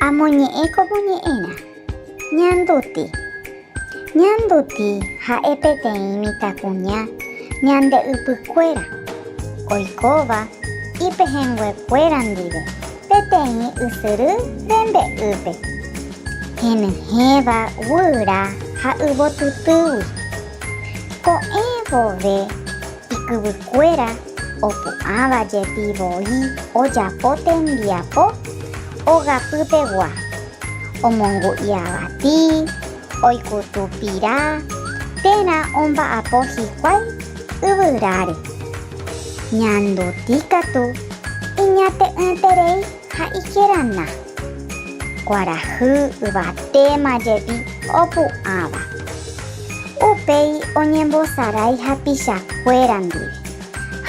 Amoñe'ẽ ko moñe'ẽrã. Ñanduti. Ñanduti ha'e peteĩ mitãkuña ñande ypykuéra, oikóva ipehẽnguekuéra ndive peteĩ ysyry rembe'ýpe, henyhẽva guyra ha yvotytýgui. Ko'ẽ vove. Ikyvykuéra opu'ãva jepi voi ojapo tembiapo ogapypegua, omongu'i avati, oikutu pira térã omba'apo hikuái yvyráre. Ñanduti katu iñate'ỹterei. Ha ikerana, kuarahy yvatéma jepi opu'ãva, upéi oñembosarái hapichakuéra ndive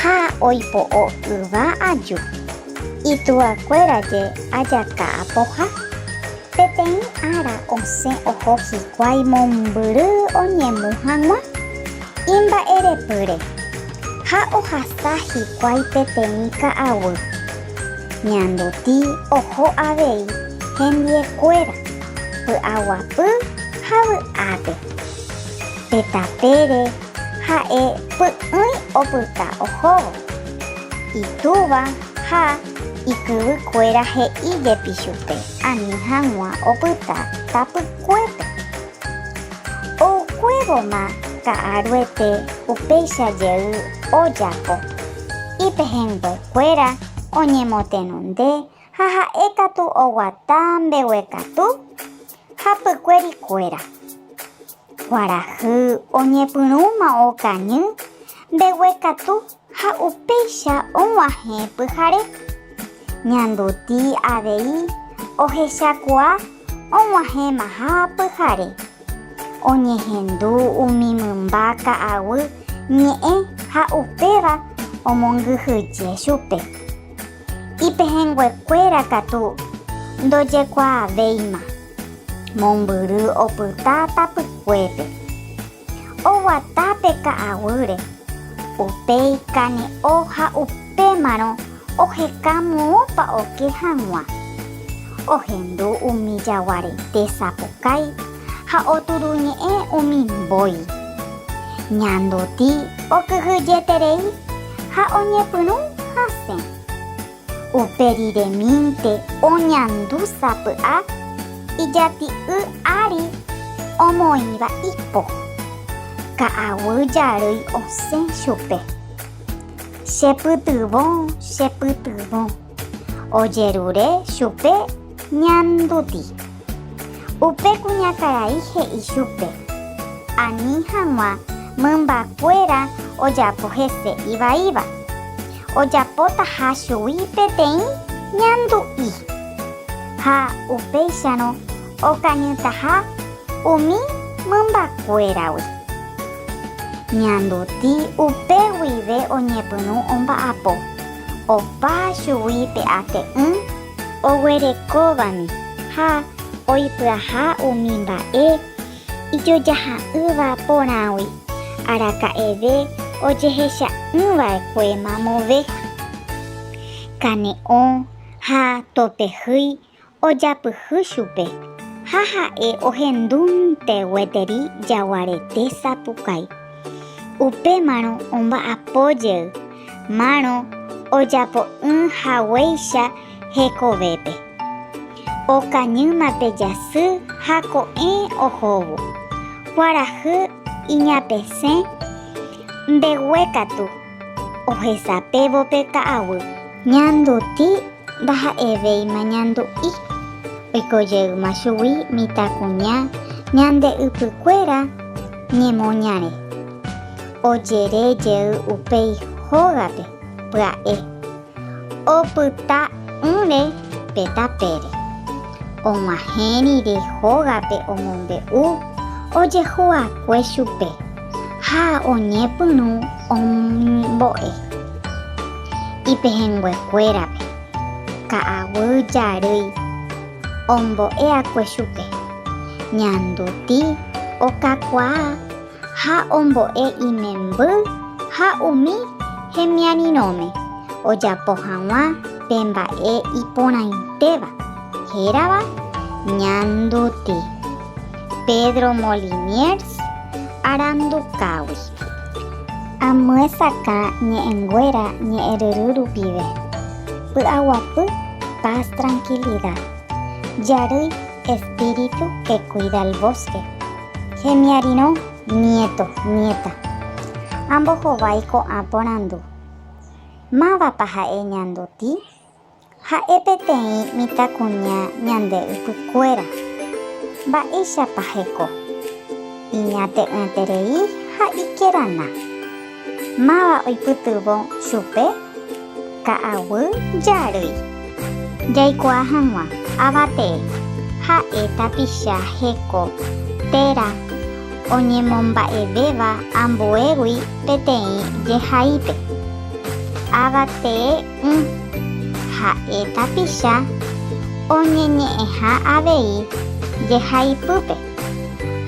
ha oipo'o yva aju, ituakuéra je ajaka apoha. Peteĩ ára osẽ oho hikuái mombyry oñemu hag̃ua imba'erepýre ha ohasa hikuái peteĩ ka'aguy. Ñanduti oho avei hendiekuéra py'aguapy ha vy'ápe. Pe tapére ha'e py'ỹi opyta ohóvo. Itúva ha ikyvykuéra he'i jepi chupe ani hag̃ua opyta tapykuépe. Oukuévoma ka'aruete upéicha jey ojapo ipehẽngue. kuéra oñemotenonde ha ha'e katu oguata mbeguekatu hapykuéri kuéra. Kuarahy oñepyrũma okañy mbeguekatu ha upéicha og̃uahẽ pyhare. Ñanduti avei ohechakuaa og̃uahẽmaha pyhare. Oñehendu umi mymba ka'aguy ñe'ẽ ha upéva omongyhyje chupe. Ipehẽnguekuéra katu ndojekuaavéima, mombyry opyta tapykuépe. Oguata pe ka'aguýre, upéi kane'o ha upémarõ Oheka moõpa oke hag̃ua, ohendu umi jaguarete sapukái ha oturuñe'ẽ umi mbói. Ñanduti okyhyjeterei ha oñepyrũ hasẽ. Upe riremínte oñandu sapy'a ijati'y ári omoĩva ipo. Ka'aguy jarýi osẽ chupe. Chepytyvõ, chepytyvõ. Ojerure chupe ñanduti. Upe kuñakarai he'i chupe, Ani hag̃ua mymbakuéra ojapo hese ivaíva. Ojapotaha chugui peteĩ ñandu'i. Ha upéicharõ Okañytaha umi mymbakuéragui. Ñanduti upe guive oñepyrũ omba'apo, opa chugui pe ate'ỹ. Oguerekóvami ha oipyaha umi mba'e ijojaha'ỹva porãgui, araka'eve ojehecha'ỹva'ekue mamove, kane'õ ha topehýi ojapyhy chupe ha ha'e ohendúnte gueteri jaguarete sapukái. Upémarõ omba'apo jey márõ ojapo'ỹ haguéicha hekovépe. Okañýma pe jasy ha ko'ẽ ohóvo. Kuarahy iñapesẽ mbeguekatu. Ohesapevo pe ta'aguy. Ñanduti ndaha'evéima ñandu'i. Oikojeýma chugui mitãkuña ñande ypykuéra ñemoñare. Ojere jey upéi hógape pya'e. Opyta'ỹre pe tapére. Og̃uahẽ rire hógape omombe'u ojehu'akue chupe ha oñepyrũ ombo'e ipehẽnguekuérape. Ka'aguy jarýi ombo'eakue chupe, ñanduti okakuaa. Ha ombo'e imemby ha umi hemiarirõme ojapo hag̃ua pe mba'e iporãitéva, hérava Ñanduti, Pedro Moliniers arandukágui. Amyesakã ñe'ẽnguéra ñe'ẽryry rupive, py'aguapy Paz Tranquilidad, Jarýi Espíritu que cuida el bosque. Hemiarirõ, niéto, niéta. Ambohovái ko'ã porandu. Mávapa ha'e ñanduti? Ha'e peteĩ mitãkuña ñande ypykuéra. Mba'éichapa heko? Iñate'ỹterei ha ikerana. Máva oipytyvõ chupe? Ka'aguy jarýi. Jaikuaa hag̃ua, ava tee, ha'e tapicha heko téra oñemomba'evéva ambuégui peteĩ jehaípe. Ava tee ỹ, ha'e tapicha oñeñe'ẽha avei jehaipýpe.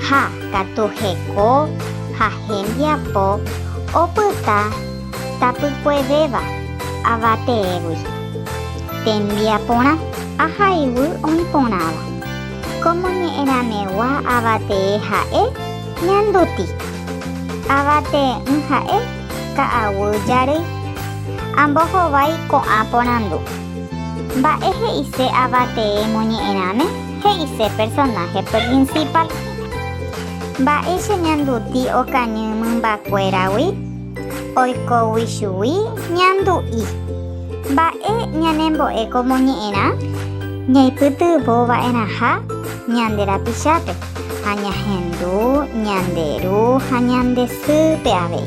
Ha katu heko ha hembiapo opyta tapykuevéva avateégui. Tembiaporã ahayhu oĩ porãva. Ko moñe'ẽramegua avatee ha'e ñanduti. Avatee'ỹ ha'e ka'aguy jarýi. Ambohovái ko'ã porandu. Mba'e he'ise avatee moñe'ẽrãme? He'ise personaje principal. Mba'e cheñanduti okañy mymbakuéragui? Oikógui chugui ñandu'i. Mba'e ñanembo'e komoñe'ẽrã? Ñaipytyvõva'erãha ñande rapichápe ha ñahendu ñande ru ha ñande sýpe avei.